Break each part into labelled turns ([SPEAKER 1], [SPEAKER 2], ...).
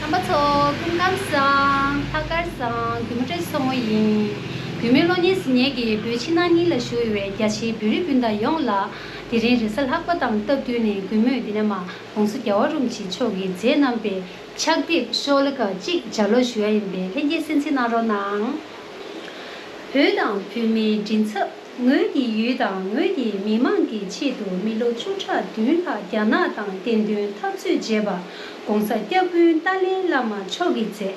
[SPEAKER 1] རྣམ་པ་ཚོ། སྐུ་ངམ་སང། ལྷག་དཀར་སང། གུས་མོ་བཀྲས་སོ་མོ་ཡིན། བུད་མེད་བློ་ངན་ཟི་ངན་གྱི་བུ་ཕྱི་ནང་གཉིས་ལ་ཞུ་འོས་བའི་རྒྱ་ཆེའི་བུ་རི་སྤུན་ཟླ་ཡོངས་ལ། དེ་རིང་རེས་གཟའ་ལྷག་པ་དང་སྟབས་བསྟུན་ནས་གུས་མོས་འདི་ན་མ་གོང་སོ་རྒྱ་བ་རུམ་བྱེད་མཆོག་གི་མཛད་རྣམ་པའི་ཕྱག་དེབ་ཤོག་ལྷེ་ཁག་གཅིག་སྦྱར་ཀློག་ཞུ་ཡ་ཡིན་པས་ལྷན་རྒྱས་གསན་གཟིགས་གནང་རོགས་གནང། བུ་དང་བུད་མེད་མགྲིན་ཚབ། ངོས་ཀྱི་ཡུལ་དང་ངོས་ཀྱི་མི་དམངས་ཀྱི་ཆེད་དུ་མི་ལོ་བཅུ་ཕྲག་བདུན་ལྷག་རྒྱ་ནག་དང་གཏན་འདུན་འཐབ་རྩོད་བརྗེས་པ ྋགོང་ས་སྐྱབས་དཔོན་ཏཱ་ལའི་བླ་མ་མཆོག་གིས་མཛད།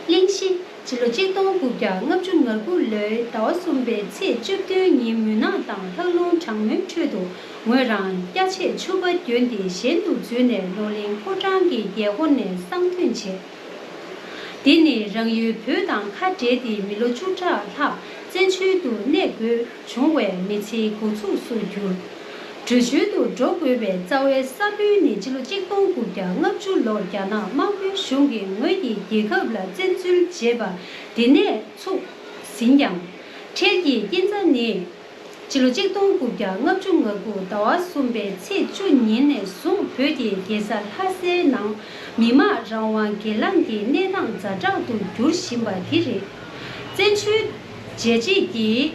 [SPEAKER 1] གླིང་བཞི། ལོ་གཅིག་སྟོང་དགུ་བརྒྱ་ལྔ་བཅུ་ང་དགུ་ལོའི་ཟླ་བ་གསུམ་པའི་ཚེས་བཅུ་བདུན་ཉིན་མུན་ནག་དང་ལྷགས་རླུང་གྲང་མོའི་ཁྲོད་དུ་ངོས་རང་སྐྱ་ཆད་ཆུ་བ་གྱོན་ཏེ་གཞན་དུ་འཛུལ་ནས་ལོ་ལིང་ཕོ་བྲང་གི་རྒྱལ་སྒོ་ནས་གསང་ཐོན་བྱས། དེ་ནས་རང་ཡུལ་བོད་དང་ཁ་བྲལ་ཏེ་མི་ལོ་བཅུ་ཕྲག་ལྷག་བཙན་བྱོལ་དུ་གནས་དགོས་བྱུང་བས་མི་ཚེའི་འགོ་ཚུགས་སུ་གྱུར། བྲོས་བྱོལ་དུ་འགྲོ་དགོས་པའི་རྩ་བའི་ས་བོན་ནི་སྤྱི་ལོ་གཅིག་སྟོང་དགུ་བརྒྱ་ལྔ་བཅུ་ལོར་རྒྱ་ནག་དམར་པོའི་གཞུང་གིས་ངོས་ཀྱི་རྒྱལ་ཁབ་ལ་བཙན་འཛུལ་བྱས་པ་དེ་ནས་ཚུགས་ཟིན་ཀྱང། འཕྲལ་གྱི་སྐྱིན་ཚ་ནི། སྤྱི་ལོ་གཅིག་སྟོང་དགུ་བརྒྱ་ལྔ་བཅུ་ང་དགུ་ཟླ་བ་གསུམ་པའི་ཚེས་བཅུ་ཉིན་ནས་བཟུང་བོད་ཀྱི་རྒྱལ་ས་ལྷ་སའི་ནང་མི་དམངས་རང་དབང་སྒེར་ལངས་ཀྱི་གནས་སྟངས་ཛ་དྲག་ཏུ་འགྱུར་བཞིན་པ་དེ་རེད། བཙན་བྱོལ་རྒྱལ་གཅེས་ཀྱིས་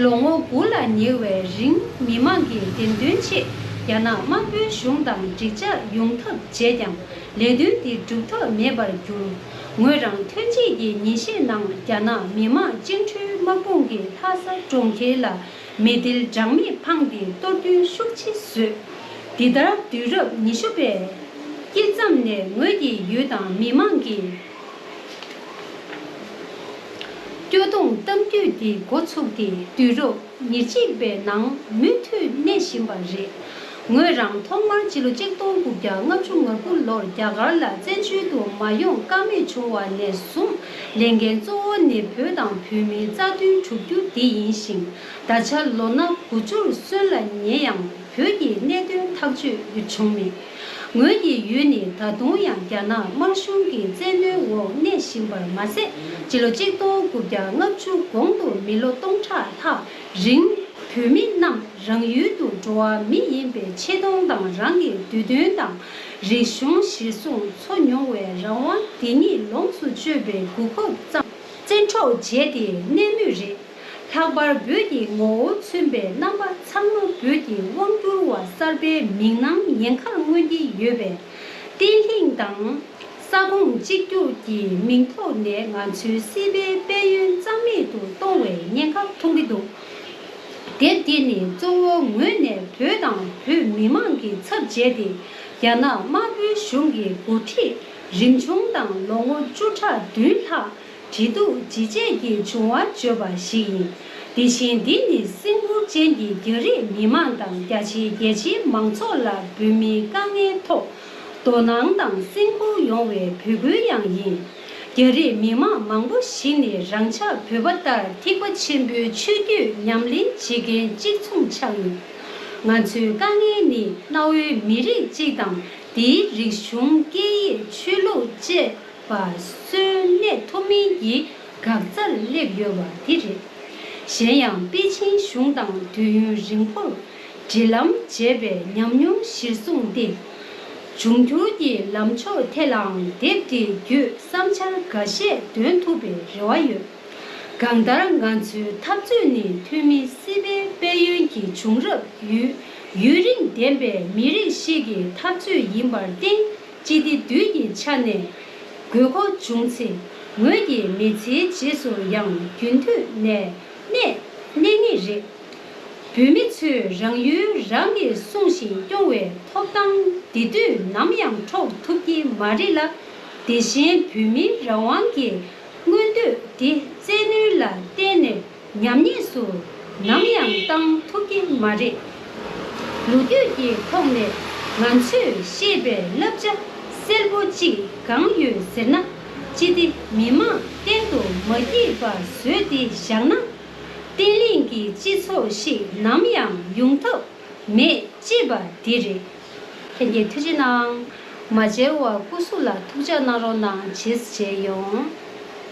[SPEAKER 1] ལོ་ངོ་དགུ་ལ་ཉེ་བའི་རིང་མི་དམངས་ཀྱི་བདེན་དོན་ཆེད་རྒྱ་ནག་དམར་པོའི་གཞུང་དང་འགྲིག་འཇགས་ཡོང་ཐབས་བྱས་ཀྱང་ལས་དོན་འདི་འགྲུབ་ཐབས་མེད་པར་གྱུར། ངོས་རང་ཐོན་སྐྱེད་ཀྱི་ཉིན་ཤས་ནང་རྒྱ་ནག་མི་དམངས་བཅིངས་གྲོལ་དམག་དཔུང་གི་ལྷ་ས་གྲོང་ཁྱེར་ལ་མི་ཏིལ་སྦྲང་མིག་འཕངས་ཏེ་གཏོར་རྡུལ་ཤུགས་ཆེ་བཟོས། འདི་ལྟར་དུས་རབས་ཉི་ཤུ་པའི་དཀྱིལ་མཚམས་ནས་ངོས་ཀྱི་ཡུལ་དང་མི་དམངས་ཀྱི་སྐྱོ་གདུང་གཏམ་རྒྱུད་འདི་འགོ་ཚུགས་ཏེ་དུས་རབས། ཉེར་གཅིག་པའི་ནང་མུ་མཐུད་གནས་བཞིན་པ་རེད། ངོས་རང་ཐོག་མར་ཕྱི་ལོ་གཅིག་སྟོང་དགུ་བརྒྱ་ལྔ་བཅུ་ང་དགུ་ལོར་རྒྱ་གར་ལ་བཙན་བྱོལ་དུ་མ་ཡོང་དཀའ་མེད་བྱུང་བ་ནས་བཟུང་ལས་འགན་གཙོ་བོ་ནི་བོད་དང་བོད་མིའི་རྩ་དོན་བསྒྲུབ་རྒྱུ་དེ་ཡིན་ཞིང་ད་ཆ་ལོ་ན་དགུ་བཅུར་སོན་ལ་ངས་ཡང་བོད་ཀྱི་གནད་དོན་ཐག་གཅོད་བྱུང་མེད། ངོས་ཀྱི་ཡུལ་ནི་ད་དུང་ཡང་རྒྱ་ནག་དམར་གཞུང་གི་བཙན་གནོན་འོག་གནས་བཞིན་པར་མ་ཟད་སྤྱི་ལོ་གཅིག་སྟོང་དགུ་བརྒྱ་ལྔ་བཅུ་གོང་དུ་མི་ལོ་སྟོང་ཕྲག་ལྷག་རིང་བོད་མི་རྣམས་རང་ཡུལ་དུ་འགྲོ་བ་མི་ཡིན་པའི་ཆེ་མཐོང་དང་རང་གི་འདོད་འདུན་དང་རིག་གཞུང་གཞིར་བཟུང་འཚོ་མྱོང་བའི་རང་དབང་དེ་ཉིད་ལོངས་སུ་སྤྱོད་པའི་གུ་ཁུབ་བཙན་འཕྲོག་བྱས་ཏེ་གནས་མུས་རེད། ལྷག་པར་བོད་ཀྱི་ངོ་བོ་མཚོན་པའི་རྣམ་པ་ཚང་མ་བོད་ཀྱི་དབང་བསྒྱུར་བ་གསར་པའི་མིག་ནང་ཡན་གར་མངོན་གྱི་ཡོད་པས། བརྟན་ལྷིང་དང། ས་ཁོངས་གཅིག་གྱུར་གྱི་མིང་ཐོག་ནས་ང་ཚོའི་སྲིད་པའི་དཔལ་ཡོན་གཙང་མེད་དུ་གཏོང་བའི་ཉེན་ཁ་མཐོང་གི་འདུག་དེབ་འདི་ནི་གཙོ་བོ་ངོས་ནས་བོད་དང་བོད་མི་མང་གི་ཚབ་བྱས་ཏེ་རྒྱ་ནག་དམར་པོའི་གཞུང་གི་འགོ་ཁྲིད་རིམ་བྱུང་དང་ལོ་ངོ་བཅུ་ཕྲག་བདུན་ལྷག་བྲིས་འདུག་ཇི་བྱས་ཀྱི་བྱུང་བ་བརྗོད་པ་ཞིག་ཡིན། དེ་བཞིན་འདི་ནི་སིང་ཕུར་ཅན་གྱི་རྒྱ་རིགས་མི་མང་དང་རྒྱ་ཆེའི་རྒྱལ་སྤྱིའི་མང་ཚོགས་ལ་འབུད་མིའི་དཀའ་ངལ་ཐོག་དོ་སྣང་དང་སེམས་ཁུར་ཡོང་བའི་འབོད་སྐུལ་ཡང་ཡིན། རྒྱ་རིགས་མི་མང་མང་པོ་ཞིག་ནི་རང་ཅག་བོད་པ་ལྟར་ཐིགས་པ་ཆེན་པོའི་ཆོས་བརྒྱུད་ཉམས་ལེན་བྱེད་མཁན་གཅིག་མཚུངས་ཆགས་ཡོད། ང་ཚོའི་དཀའ་ངལ་ནི་གནའ་བོའི་མི་རིགས་གཅིག་དང་དེའི་རིག་གཞུང་སྐད་ཡིག་ཆོས་ལུགས་བཅས། པ་གསོན་གནས་ཐུབ་མིན་གྱི་འགག་རྩར་སླེབས་ཡོད་པ་དེ་རེད། གཞན་ཡང་པེ་ཅིན་གཞུང་དང་དུས་ཡུན་རིང་བོར་འབྲེལ་ལམ་བྱས་པའི་ཉམས་མྱོང་གཞིར་བཟུང་སྟེ། འབྱུང་འགྱུར་གྱི་ལམ་ཕྱོགས་ཐད་ལའང་དེབ་དེ་བརྒྱུད་བསམ་འཆར་འགའ་ཤས་འདོན་ཐུབ་པའི་རེ་བ་ཡོད། གང་ལྟར་ང་ཚོའི་འཐབ་རྩོད་ནི་འཐུས་མི་སི་པན་དཔལ་ཡོན་གྱི་བྱུང་རབས་ཡུལ་ཡུན་རིང་ལྡན་པའི་མི་རིགས་ཤིག་གི་འཐབ་རྩོད་ཡིན་པར་བརྟེན། ཅི་སྟེ་བདུད་ཀྱི་ཆ་ནས་དགོས་མཁོ་འབྱུང་ཚེ་ངོས་ཀྱི་མི་ཚེའི་རྗེས་སུ་ཡང་རྒྱུན་མཐུད་ནས་གནས་གནས་ངེས་རེད། བོད་མི་ཚོས་རང་ཡུལ་རང་གིས་སྲུང་ཞིང་སྐྱོང་བའི་ཐོབ་ཐང་འདི་དུས་ནམ་ཡང་འཕྲོག་ཐུབ་ཀྱི་མ་རེད་ལ། དེ་བཞིན་བོད་མིའི་རང་དབང་གི་མངོན་འདོད་འདི་བཙན་གནོན་ལ་བརྟེན་ནས་ཉམས་ཉེས་སུ་ནམ་ཡང་བཏང་ཐུབ་ཀྱི་མ་རེད། ལོ་རྒྱུས་ཀྱི་ཐོག་ནས་ང་ཚོས་ཤེས་པའི་བསླབ་བྱ་གསལ་པོ་གཅིག་གང་ཡོད་ཟེར་ན། ཅི་སྟེ་མི་དམངས་གཏན་དུ་མ་སྐྱིད་པ་བཟོས་ཏེ་བཞག་ན། བརྟན་བརླིང་གི་སྤྱི་ཚོགས་ཤིག་ནམ་ཡང་ཡོང་ཐབས་མེད་ཅེས་པ་དེ་རེད། ཁྱེད་ཀྱི་ཐུགས་རྗེ་གནང། མ་མཇལ་བ་སྐུ་གཟུགས་ལ་ཐུགས་ཅག་གནང་རོགས་གནང་བྱེད་བྱེད་ཡོང།